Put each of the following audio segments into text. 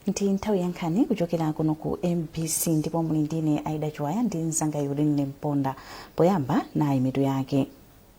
ndi nthawi ya nkhani kuchokera kuno ku mbc ndipo muli ndine aida chiwaya ndi mzanga yulini mponda poyamba nayi mitu yake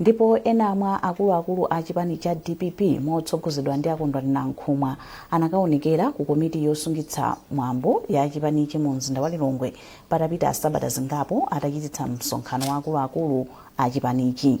Ndipo ena mwa akuluakulu a chipani cha dpp motsogozedwa ndi a Kondwani Nankhumwa anakaonekera ku komiti yosungitsa mwambo ya chipanichi mu mzinda wa Lilongwe patapita sabata zingapo atachititsa msonkhano wa akuluakulu a chipanichi.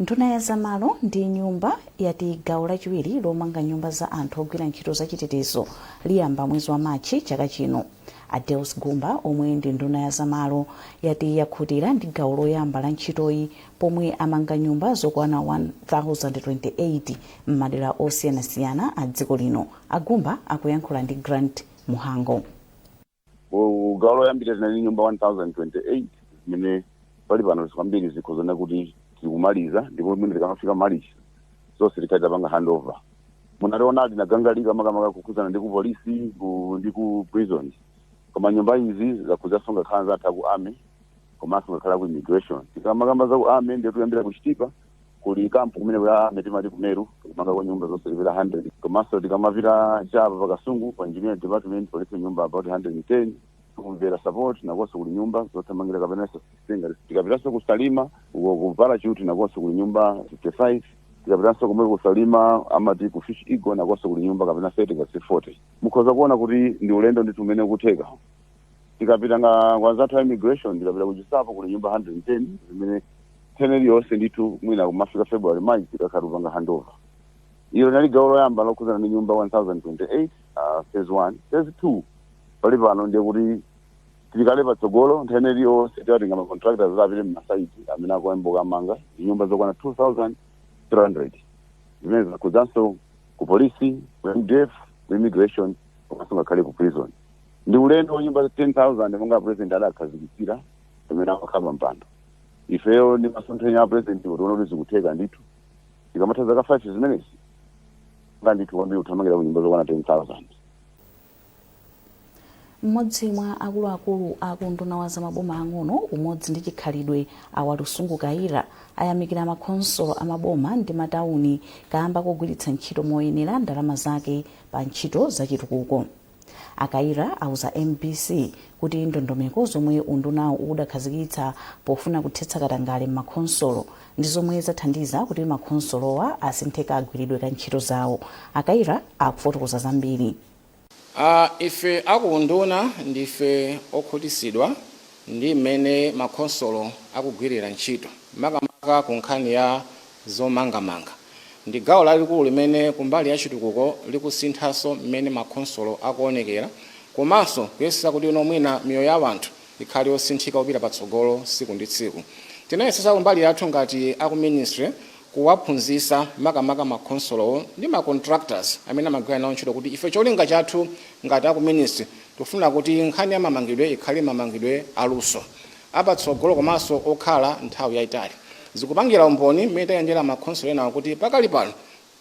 nduna ya zamalo ndi nyumba yati gawo lachiwiri lomanga nyumba za anthu ogwira ntchito zachitetezo liyamba mwezi wa machi chaka chino a deus gumba omwe ndi nduna ya zamalo yati yakhutira ndi gawo loyamba la ntchitoyi pomwe amanga nyumba zokwana 1028 m'madera osiyanasiyana a dziko lino a gumba akuyankhula ndi grant muhango Ku gawo loyambira tinali nyumba 1028 zimene pali pano kwambiri zikuoneka kuti tikumaliza ndipo mwina tikamafika malichi zonse tikhala tapanga handover munationa tinatangwanika makamaka kukhudzana ndi ku polisi ku- ndi ku prison koma nyumba izi zakhudzanso ngakhale anzathu aku army komanso ngakhale aku immigration tikamakamba za ku army ndiye tikuyambira ku chitipa kuli kampu kumene kuja timati ku meru kumanga kwa nyumba zonse zipita 100 komanso tikamapita cha apa pa kasungu pa engineering department palipo nyumba about 110 ku mvera support nakonso kuli nyumba zothamangira kapena sasitenga tikapitanso ku salima uko ku parachute nakonso kuli nyumba 55 tikapitanso komwe ku salima amati ku fish eagle nakonso kuli nyumba kapena 30 kapena 40 mukhoza kuona kuti ndi ulendo ndithu umene ukutheka tikapita kwa anzathu a immigration tikapita ku chinsapo kuli nyumba 110 zimene nthawi iliyonse ndithu mwina kumafika february march tikakhala tikupanga handover ilo linali gawo loyamba lokhudzana ndi nyumba 1028 uh, phase 1 phase 2 pali pano ndiye kuti tili kale patsogolo nthawi iliyonse tikatenga ma contractors apite mmasaiti amene akuyambuka amanga ndi nyumba zokwana 2300 zimene zakhudzanso ku polisi ku mdf ku immigration komanso ngakhale ku prison ndi ulendo wa nyumba 10000 monga president adakhazikitsira pamene amakhala pa mpando ifeyo ndi masomphenya a president tiona kuti zikutheka ndithu tikamatha zaka 5 zimenezi nga ndithu kwambiri kuthamangira ku nyumba zokwana 10000 mmodzi mwa akuluakulu a kunduna wa zamaboma ang'ono umodzi ndi chikhalidwe a walusungu kayira ayamikira makhonsolo a maboma ndi matawuni kamba kogwiritsa ntchito moyenera ndalama zake pa ntchito zachitukuko a kaira auza mbc kuti ndondomeko zomwe undunawu udakhazikitsa pofuna kuthetsa katangale m'makhonsolo ndi zomwe zathandiza kuti makhonsolowa asinthe kagwiridwe ka ntchito zawo a kaira akufotokoza zambiri Uh, ife akuunduna ndife okhutitsidwa ndi mmene makhonsolo akugwirira ntchito makamaka ku nkhani ya Zomangamanga ndi gawo lalikulu limene kumbali ya chitukuko likusinthaso mmene makhonsolo akuonekera komaso kuyesesa kuti no mwina miyoyo ya wanthu ikhale yosinthika kupita patsogolo siku ndi tsiku. Tinayesesa kumbali yathu ngati aku ministry kuwaphunzisa makamaka makhonsolowo ndi ma contractors amene amagwira nawo ntchito kuti ife cholinga chathu ngati aku ministry tikufuna kuti nkhani ya mamangidwe ikhale mamangidwe aluso. apatsogolo komanso okhala nthawi yaitali. Zikupangira umboni mmene tayendera makhonsolo enawo kuti pakali pano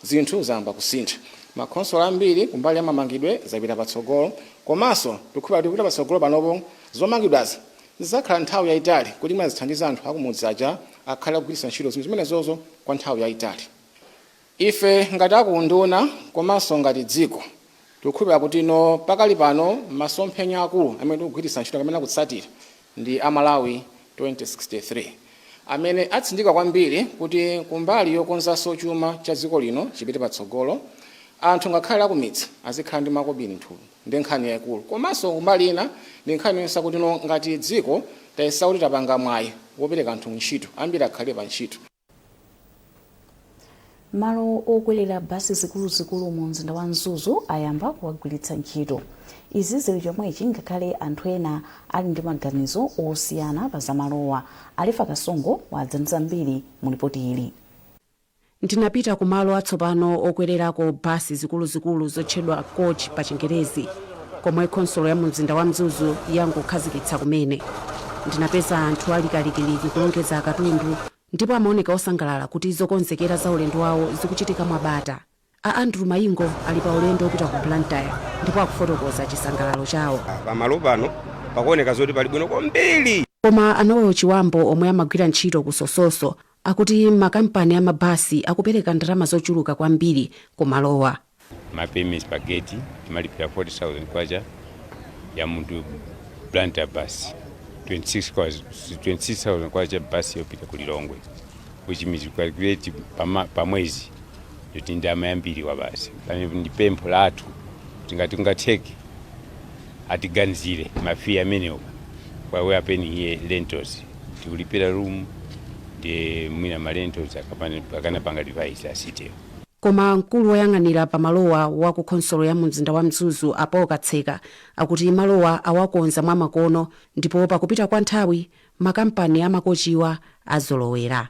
zinthu zayamba kusintha. Makhonsolo ambiri kumbali ya mamangidwe zapita patsogolo komanso tikukhulupira kuti kupita patsogolo panopo zomangidwazi zidzakhala nthawi yaitali kuti mwina zithandize anthu akumudzi aja akhale akugwiritsa ntchito zinthu zimenezozo kwa nthawi yaitali. Ife ngati a ku unduna komanso ngati dziko tikukhulupirira kuti no pakali pano masomphenya akulu amene tikugwiritsa ntchito kapena kutsatira ndi a Malawi 2063 amene atsindika kwambiri kuti kumbali yokonzanso chuma cha dziko lino chipite patsogolo anthu ngakhale akumidzi azikhala ndi makobiri nthumba ndi nkhani yaikulu komanso kumbali ina ndi nkhani yoonetsa kuti no ngati dziko tayesa kuti tapanga mwayi wopereka anthu ntchito ambiri akhale pa ntchito malo okwerera basi zikuluzikulu mu mzinda wa mzuzu ayamba kuwagwiritsa ntchito izi zili chomwechi ngakhale anthu ena ali ndi maganizo osiyana pa zamalowa alefa kasongo wadza ndi zambiri mu lipoti ili ndinapita ku malo atsopano okwererako basi zikuluzikulu zotchedwa coach pa chingerezi komwe khonsolo ya mumzinda wa Mzuzu yangokhazikitsa kumene. Ndinapeza anthu ali kalikiliki kulongedza akatundu ndipo amaoneka osangalala kuti zokonzekera za ulendo wawo zikuchitika mwabata. A Andrew Mayingo ali pa ulendo wopita ku Blantyre ndipo akufotokoza chisangalalo chawo. Pamalo pano pakuoneka zoti pali bwino kwambiri. Koma a Noel Chiwambo omwe amagwira ntchito ku Sososo Akuti makampani a mabasi akupereka ndalama zochuluka kwambiri ku malowa. Ma payments pa gate timalipira K40,000 ya mu Blantyre bus, K26,000, K26,000 bus yopita ku Lilongwe which means you calculate pama, pa mwezi yoti ndalama yambiri kwabasi. Pomwe ndi pempho lathu kuti ngati kungatheke atiganizire ma fee amenewo while we are paying here rentals tikulipira room nde mwina ma rentals akapana- akanapanga revise a city koma mkulu woyang'anira pamalowa wa ku khonsolo ya mumzinda wa mzuzu a paul katseka akuti malowa awakonza mwamakono ndipo pakupita kwa nthawi makampani amakochiwa azolowera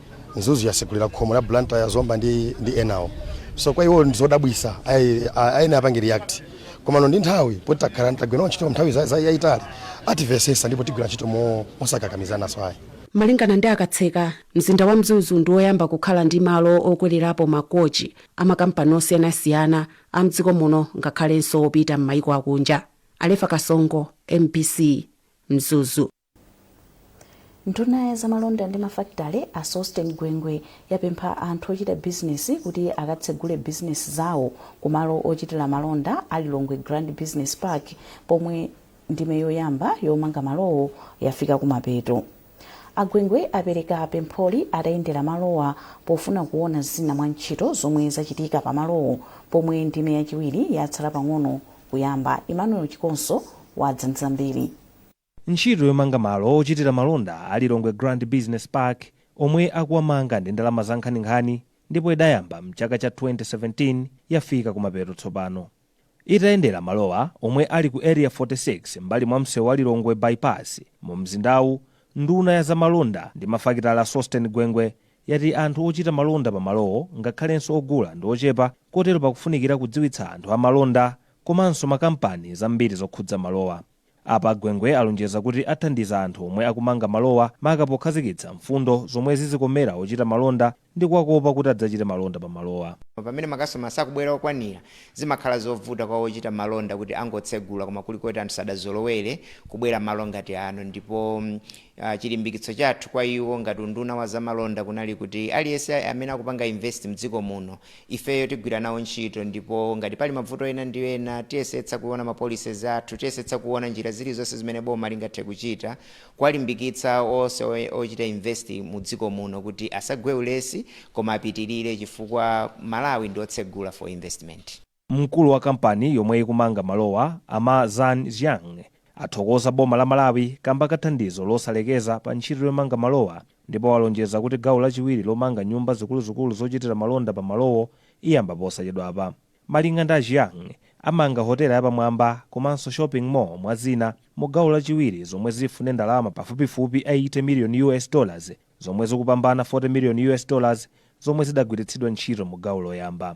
Mzuzu yasegulira khomo la Blantyre, Zomba ndi enawo so kwa iwo ndizodabwisa ayenera apange react komano ndi nthawi poti takhala tagwira ntchito nthawi yayitali atimvetsetsa ndipo tigwira ntchito mosakakamizananso ayi Malingana ndi a Katseka, mzinda wa Mzuzu ndi woyamba kukhala ndi malo okwelerapo ma kochi a makampani osiyanasiyana a mdziko muno ngakhalenso opita mmaiko akunja. Alefa Kasongo, mbc, Mzuzu. nduna ya zamalonda ndi mafakitale a sosten gwengwe yapempha anthu ochita bizinesi kuti akatsegule bizinesi zawo kumalo ochitira malonda a lilongwe grand business park pomwe ndime yoyamba yomanga malowo yafika kumapeto a gwengwe apereka pempholi atayendera malowa pofuna kuona zina mwa ntchito zomwe zachitika pa malowo pomwe ndime yachiwiri yatsala pang'ono kuyamba emmanuel chikonso wadza ndi zambiri Ntchito yomanga malo ochitira malonda a Lilongwe Grand Business Park omwe akuwamanga ndi ndalama za nkhaninkhani ndipo idayamba m'chaka cha 2017 yafika kumapeto tsopano. Itayendera malowa omwe ali ku Area 46 m'mbali mwa msewu wa Lilongwe By-pass mu mzindawu, nduna ya za malonda ndi mafakitale a Sosten Gwengwe yati anthu ochita malonda pa malowo ngakhalenso ogula ndi ochepa kotero pakufunikira kudziwitsa anthu a malonda komanso makampani zambiri zokhudza malowa. Apa a Gwengwe alonjeza kuti athandiza anthu omwe akumanga malowa maka pokhazikitsa mfundo zomwe zizikomera ochita malonda ndi kuwakopa kuti adzachite malonda pa malowa. Pamene makasitoma sakubwera okwanira, zimakhala zovuta kwa ochita malonda kuti angotsegula koma kuli koti anthu sadazolowere kubwera malo ngati ano ndipo Chilimbikitso chathu kwa iwo ngati unduna wa zamalonda kunali kuti aliyense amene akupanga invest mdziko muno ifeyo tigwira nawo ntchito ndipo ngati pali mavuto ena ndi ena tiyesetsa kuona ma policies athu, tiyesetsa kuona njira zilizonse zimene boma lingathe kuchita kuwalimbikitsa onse ochita invest mu dziko muno kuti asagwe ulesi koma apitirire chifukwa Malawi ndi otsegula for investment. Mkulu wa kampani yomwe ikumanga malowa, a Ma Zan Jiang, athokoza boma la Malawi kamba ka thandizo losalekeza pa ntchito yomanga malowa ndipo walonjeza kuti gawo lachiwiri lomanga nyumba zikuluzikulu zochitira malonda pa malowo iyamba posachedwapa. Malinga ndi a Jiang, amanga hotela yapamwamba komanso shopping mall mwa zina mu gawo lachiwiri zomwe zifune ndalama pafupifupi 80 million US dollars zomwe zikupambana 40 million US dollars zomwe zidagwiritsidwa ntchito mu gawo loyamba.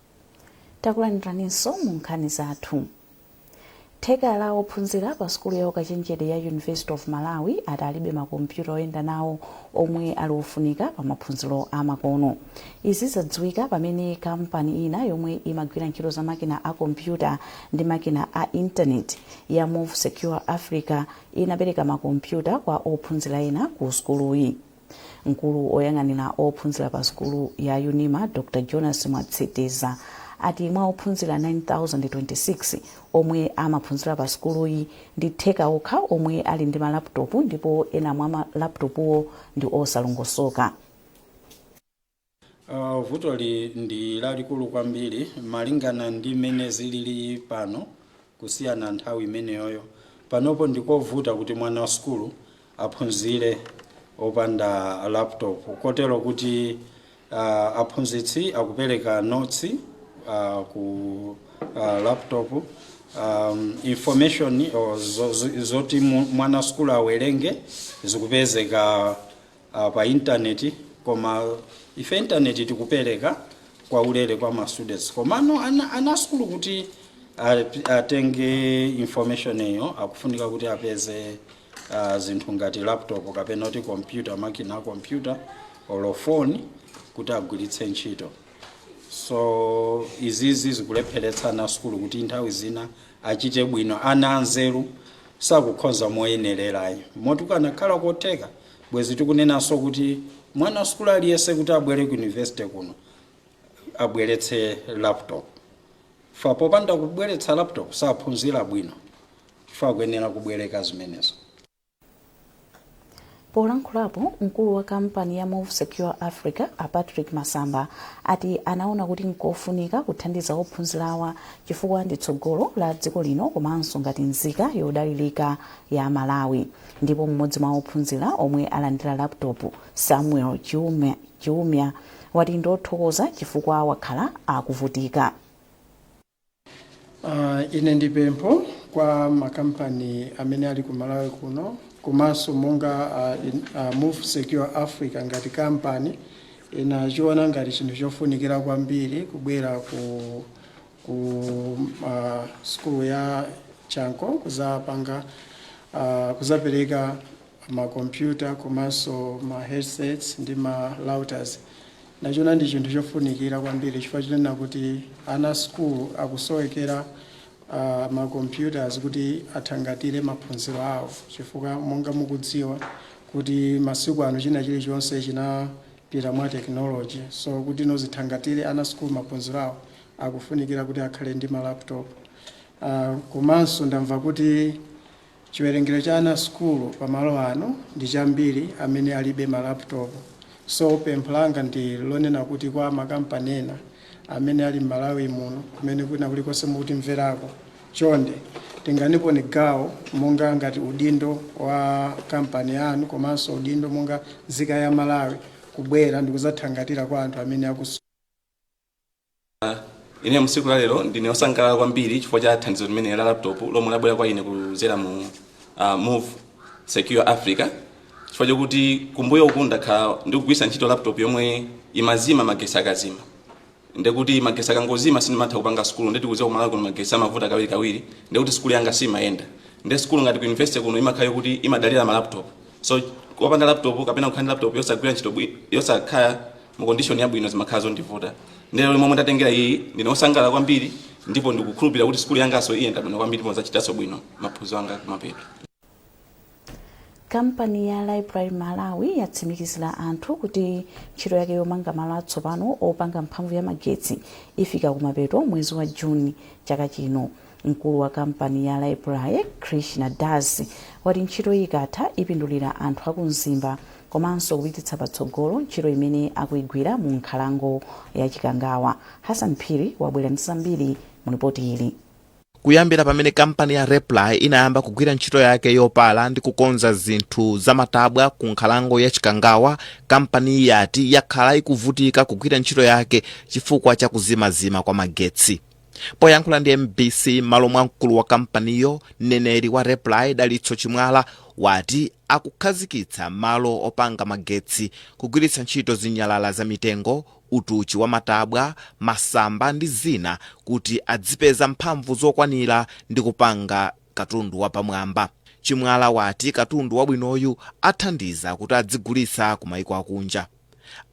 Takulandiraninso mu nkhani zathu. Theka la ophunzira pa sukulu ya ukachenjede ya University of Malawi ati alibe makompyuta oyenda nawo omwe ali ofunika pa maphunziro a makono. Izi zadziwika pamene kampani ina yomwe imagwira ntchito za makina a kompyuta ndi makina a internet ya Move Secure Africa inapereka makompyuta kwa ophunzira ena ku sukuluyi. mkulu oyang'anira ophunzira pa sukulu ya unima dr jonas mwatsiteza ati mwa ophunzira 9026 omwe amaphunzira pa sukuluyi ndi theka okha omwe ali ndi malaputopu ndipo ena mwa malaputopuwo ndi osalongosoka Uh, vutoli ndi lalikulu kwambiri malingana ndi mmene zilili pano kusiyana nthawi imeneyoyo panopo ndikovuta kuti mwana wa sukulu aphunzire opanda laptop kotero kuti uh, aphunzitsi akupereka notsi uh, ku uh, laptop um, information or zo- zo- zoti mu- mwana wa sukulu awerenge zikupezeka uh, pa internet koma ife internet tikupereka yaulere kwa ma students komano ana, ana sukulu kuti ap- atenge information iyo akufunika kuti apeze uh, zinthu ngati laptop kapena kuti computer makina a computer or phone kuti agwiritse ntchito so izizi zikulepheretsa ana sukulu kuti nthawi zina achite bwino ana anzeru sakukhoza moyenererayo moti kukanakhala kotheka Bwezi tikunenanso kuti mwana wa sukulu aliyense kuti abwere ku university kuno abweretse laptop fa popanda kubweretsa laptop saphunzira bwino fa akuyenera kubwereka zimenezo. Polankhulapo, mkulu wa kampani ya Move Secure Africa a Patrick Masamba ati anaona kuti nkofunika kuthandiza ophunzirawa chifukwa ndi tsogolo la dziko lino komanso ngati nzika yodalirika ya Malawi. Ndipo m'modzi mwa ophunzira omwe alandira laptop, Samuel Chiumia wati ndi othokoza chifukwa wakhala akuvutika. Uh, ine ndi pempho kwa makampani amene ali ku Malawi kuno komanso monga uh, in, uh, Move Secure Africa ngati kampani inachiona ngati chinthu chofunikira kwambiri kubwera ku ku uh, sukulu ya chanco kuzapanga uh, kuzapereka makompyuta komanso ma headsets ndi ma routers nachiona ndi chinthu chofunikira kwambiri chifukwa chinena kuti ana sukulu akusowekera uh, macomputers kuti athangatire maphunziro awo chifukwa monga mukudziwa kuti masiku ano china chilichonse chinapita mwa tekinoloji so kutino zithangatire ana sukulu maphunziro awo akufunikira kuti akhale ndi ma laptop uh, komanso ndamva kuti chiwerengero cha ana sukulu pamalo ano ndi chambiri amene alibe ma laptop so pempho langa ndi lonena kuti kwa makampani ena amene ali m'malawi muno kumene kuna kulikonse mukutimverako, chonde tenganiponi gawo monga ngati udindo wa kampani yanu komanso udindo monga nzika ya malawi kubwera ndikuzathangatira kwa anthu amene akuso ine msiku la lero ndine osangalala kwambiri chifukwa cha thandizo limene la laptop lomwe labwera kwa ine kuzera mu uh, move secure africa chifukwa chokuti kumbuyo uku ndakhala ndikugwiritsa ntchito laptop yomwe imazima magesi akazima ndekuti magesi akangozima sindimatha kupanga sukulu ndeti kuziwa kumalawi kuno magesi amavuta kawiri kawiri ndekuti sukulu yanga siimayenda nde sukulu ngati ku university kuno imakhala yokuti imadalira ma laptop so kupanda laptop kapena kukhala ndi laptop yosagwira ntchito bwi- yosakhala mu condition yabwino zimakhala zondivuta ndero momwe ndatengera iyi ndine osangalala kwambiri ndipo ndikukhulupirira kuti sukulu yangaso iyenda bwino kwambiri ndipo ndidzachitanso bwino maphunziro anga kumapeto kampani ya raiply malawi yatsimikizira anthu kuti ntchito yake yomanga malo atsopano opanga mphamvu ya magetsi ifika kumapeto mwezi wa juni chaka chino mkulu wa kampani ya raiply krishna das wati ntchito iyi ikatha ipindulira anthu aku mzimba komanso kupititsa patsogolo ntchito imene akuigwira mu nkhalango ya chikangawa hassan phiri wabwera ndi zambiri mu lipoti ili kuyambira pamene kampani ya raiply inayamba kugwira ntchito yake yopala ndi kukonza zinthu zamatabwa ku nkhalango ya chikangawa kampaniyi yati yakhala ikuvutika kugwira ntchito yake chifukwa cha kuzimazima kwa magetsi poyankhula ndi mbc m'malo mwa mkulu wa kampaniyo mneneri wa raiply dalitso chimwala wati akukhazikitsa malo opanga magetsi kugwiritsa ntchito zinyalala za mitengo utuchi wa matabwa masamba ndi zina kuti adzipeza mphamvu zokwanira ndi kupanga katundu wapamwamba chimwala wati katundu wabwinoyu athandiza kuti adzigulitsa ku maiko akunja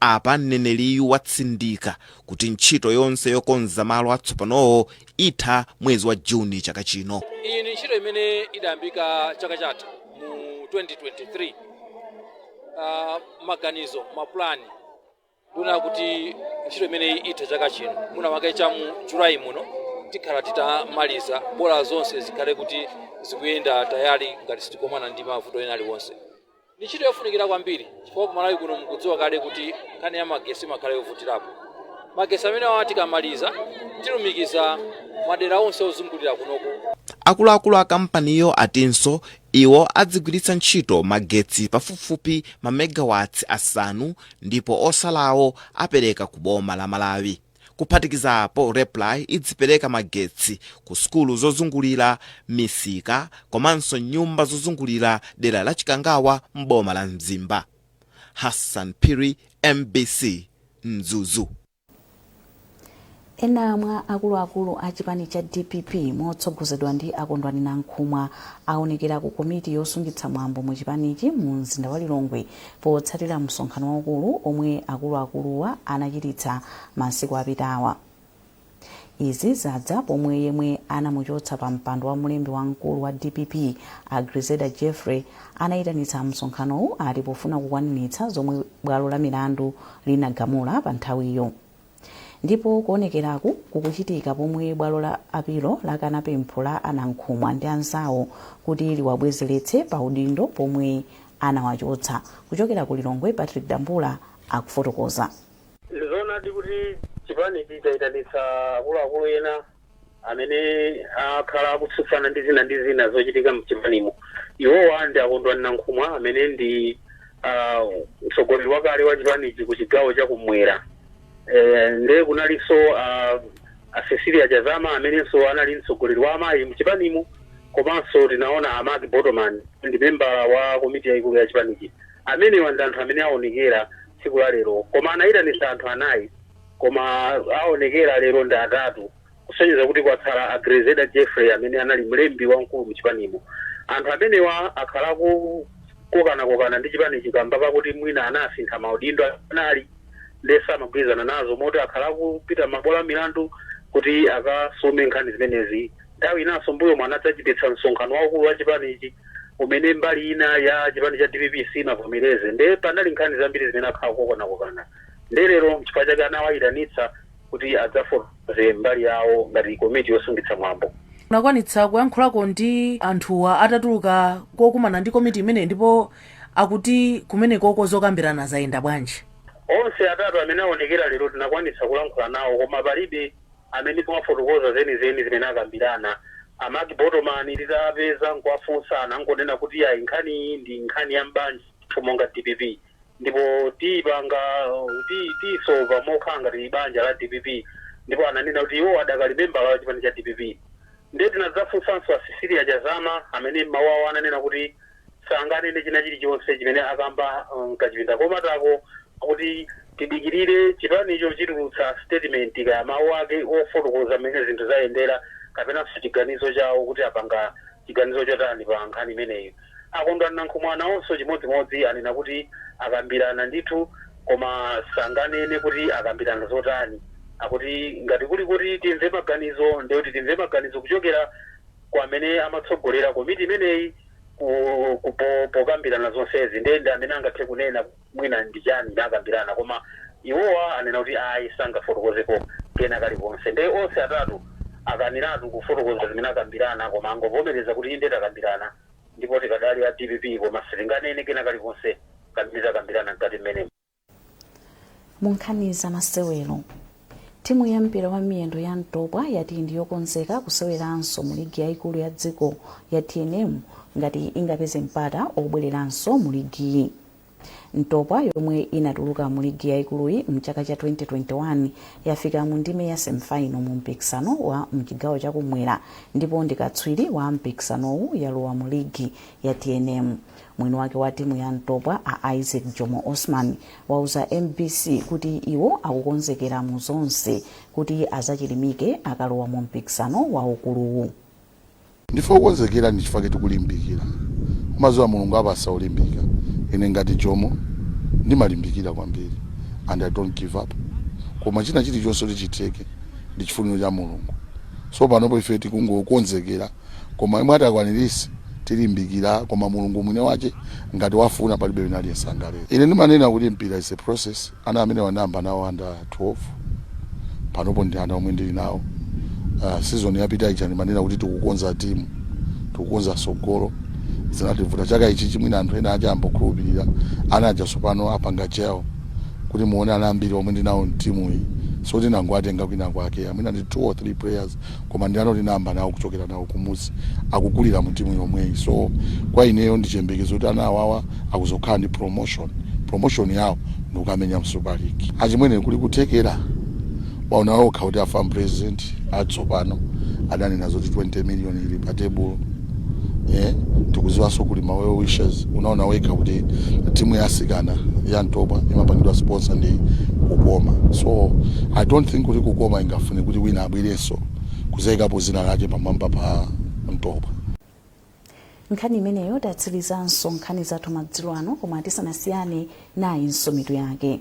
Apa mneneriyu watsindika kuti ntchito yonse yokonza malo atsopanowo itha mwezi wa Juni chaka chino. Iyi ndi ntchito imene idayambika chaka chatha mu 2023. Uh, maganizo mapulani timaona kuti ntchito imeneyi itha chaka chino mwina mwake cha mu July muno tikhala titamaliza bola zonse zikhale kuti zikuyenda tayale ngati sitikomana ndi mavuto ena aliwonse. Ndi ntchito yofunikira kwambiri chifukwa ku Malawi kuno mukudziwa kale kuti nkhani ya magesi imakhala yovutirapo. Magesi amenewa tikamaliza tilumikiza madera onse ozungulira kunoku. Akuluakulu a kampaniyo atinso iwo adzigwiritsa ntchito magetsi pafupifupi ma megawatts asanu ndipo otsalawo apereka ku boma la Malawi. Kuphatikiza apo, Raiply idzipereka magetsi ku sukulu zozungulira misika komanso nyumba zozungulira dera la Chikangawa m'boma la Mzimba. Hassan Phiri, mbc, Mzuzu. Ena mwa akuluakulu a chipani cha dpp motsogozedwa ndi a Kondwani Nankhumwa aonekera ku komiti yosungitsa mwambo mu chipanichi mu mzinda wa Lilongwe potsatira msonkhano waukulu omwe akuluakuluwa anachititsa masiku apitawa. Izi zadza pomwe yemwe anamuchotsa pa mpando wa mlembi wamkulu wa dpp a Grezelder Jeffrey anayitanitsa msonkhanowu ati pofuna kukwaniritsa zomwe bwalo la milandu linagamula pa nthawiyo. ndipo kuonekeraku kukuchitika pomwe bwalo la apilo lakana pempho la a nankhumwa ndi anzawo kuti liwabwezeretse pa udindo pomwe anawachotsa kuchokera ku lilongwe patrick dambula akufotokoza ndizonadi kuti chipanichi chayitanitsa akuluakulu ena amene akhala akutsutsana ndi zina ndi zina zochitika mchipanimo iwowa ndi a kondwani nankhumwa amene ndi ah, mtsogoleri wakale wa chipanichi ku chigawo cha kumwera eh, nde kunalinso ah, a cecilia chazama amenenso anali mtsogoleri wa amayi mchipanimo komanso tinaona a mark botomani ndi membala wa komiti yayikulu ya chipanichi amenewa ndi anthu amene aonekera tsiku la lero koma anayitanitsa anthu anayi Koma awonekera lero ndi atatu kusonyeza kuti kwatsala a Grezelder Jeffrey amene anali mlembi wamkulu mchipanimo. Anthu amenewa akhala akukokanakokana ndi chipanichi kamba pakuti mwina anasintha maudindo amene anali nde samagwirizana nazo moti akhala akupita mmabwalo amilandu kuti akasume nkhani zimenezi. Nthawi inanso mbuyomu anadzachititsa msonkhano waukulu wachipanichi umene mbali ina ya chipani cha dpp sinavomereze nde panali nkhani zambiri zimene akhala akukokanakokana. Ndiye lero n'chifukwa chake anawayitanitsa kuti adzafotokoze mbali yawo ngati komiti yosungitsa mwambo. Munakwanitsa kuyankhulako ndi anthuwa atatuluka kokumana ndi komiti imeneyi ndipo akuti kumeneko zokambirana zayenda bwanji? Onse atatu amene awonekera lero tinakwanitsa kulankhula nawo koma palibe amene wafotokoza zenizeni zimene akambirana. A Mark Botoman titawapeza n'kuwafunsa anangonena kuti ayi nkhaniyi ndi nkhani ya m'banja lathu monga dpp. ndipo tiyipanga ti- tiyisova mokhala ngati banja la dpp ndipo ananena kuti iwo adakali membala wa chipani cha dpp ndiye tinadzafunsanso a Cecilia Chazama amene m'mawu awo ananena kuti sanganene china chilichonse chimene akamba uh, mkachipinda komatako kuti tidikirire chipanicho chitulutsa statement kaya mawu ake ofotokoza mmene zinthu zayendera kapenanso chiganizo chawo kuti apanga chiganizo chotani pa nkhani imeneyi A Kondwani Nankhumwa nawonso chimodzimodzi anena kuti akambirana ndithu koma sanganene kuti akambirana zotani. Akuti ngati kuli koti timve maganizo ndiye kuti timve maganizo kuchokera kwa amene amatsogolera komiti imeneyi ku, ku, po, pokambirana zonsezi ndiye ndi amene angathe kunena. mwina ndi chani anakambirana koma iwowa anena kuti ayi sangafotokozepo kena kalikonse nde onse atatu akaniratu kufotokoza zimene akambirana koma angovomereza kuti inde takambirana ndipo tikadali a dpp koma sitinganene kena kalikonse kamene takambirana mkati mmenemo. mu nkhani za masewero timu ya mpira wa miyendo ya ntopwa yati ndi yokonzeka kuseweranso mu ligi yayikulu ya dziko ya tnm ngati ingapeze mpata obwereranso mu ligiyi ntopwa yomwe inatuluka mu ligi yaikuluyi mchaka cha 2021 yafika mu ndime ya semifaino mu mpikisano wa mchigawo chakumwera ndipo ndi katswiri wa mpikisanowu yalowa mu ligi ya tnm mwini wake wa timu ya ntopwa a isaac jomo osman wauza mbc kuti iwo akukonzekera mu zonse kuti azachilimike akalowa mu mpikisano waukuluwu Ndife okonzekera ndichifake tikulimbikira mumaziwa mulungu apasa olimbika ine ngati jomo ndimalimbikira kwambiri and i don't give up koma china chilichonse kuti chitheke ndichifuniro cha mulungu so panopo ife tikungokonzekera koma yemwe ati akwanilise tilimbikira koma mulungu mwini wache ngati wafuna palibe wina aliyense angaletse ine ndimanena kuti mpira is a process Ana amenewa ndayamba nawo under 12, panopo ndi ana omwe ndili nawo. Season yapita ija ndimanena kuti tikukonza team, tikukonza tsogolo, zinativuta. Chaka ichichi mwina anthu ena aja ayamba kukhulupilira. Ana aja tsopano apanga gel, kuti muone ana ambiri omwe ndili nawo m'team-yi, sioti ndangowatenga kwinakwake ayi, mwina ndi 2 or 3 players. koma ndi ana otinayamba nawo kuchokera nawo kumuzi akukulira mu timu yomweyi so kwa ineyo ndi chiyembekezo kuti ana awawa akuzokhala ndi promotion promotion yawo ndikukamenya mu super league achimwene kuli kuthekera waona okha kuti a fam president atsopano adanena zoti 20 million ili pa tebulo eh, tikuziwanso kuli ma well wishers unaona wekha kuti timu ya asikana ya ntopwa imapangidwa sponsor ndi kukoma so i don't think kuti kukoma ingafune kuti wina abwerenso kuzaikapo zina lake pamwamba pa ntopwa nkhani imeneyo tatsirizanso nkhani zathu madzulo ano koma tisanasiyane nayinso mitu yake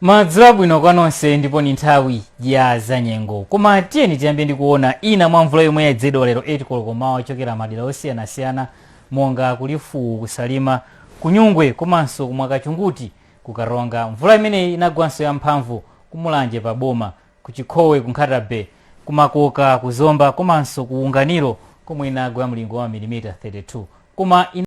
madzulo abwino kwa nonse ndipo ni nthawi ya zanyengo koma tiyeni tiyambe ndi kuona ina mwa mvula yomwe yayezedwa lero 8 koloko m'mawa kuchokera madera osiyanasiyana monga ku Lifuwu, ku Salima, ku Nyungwe komanso ku Mwakashunguti ku Karonga. Mvula imeneyi inagwanso ya mphamvu ku Mulanje pa boma, ku Chikhowe, ku Nkhata Bay, ku Makoka, ku Zomba komanso ku Unganiro komwe inagwa ya mlingo wa mamilimita 32. Koma ina.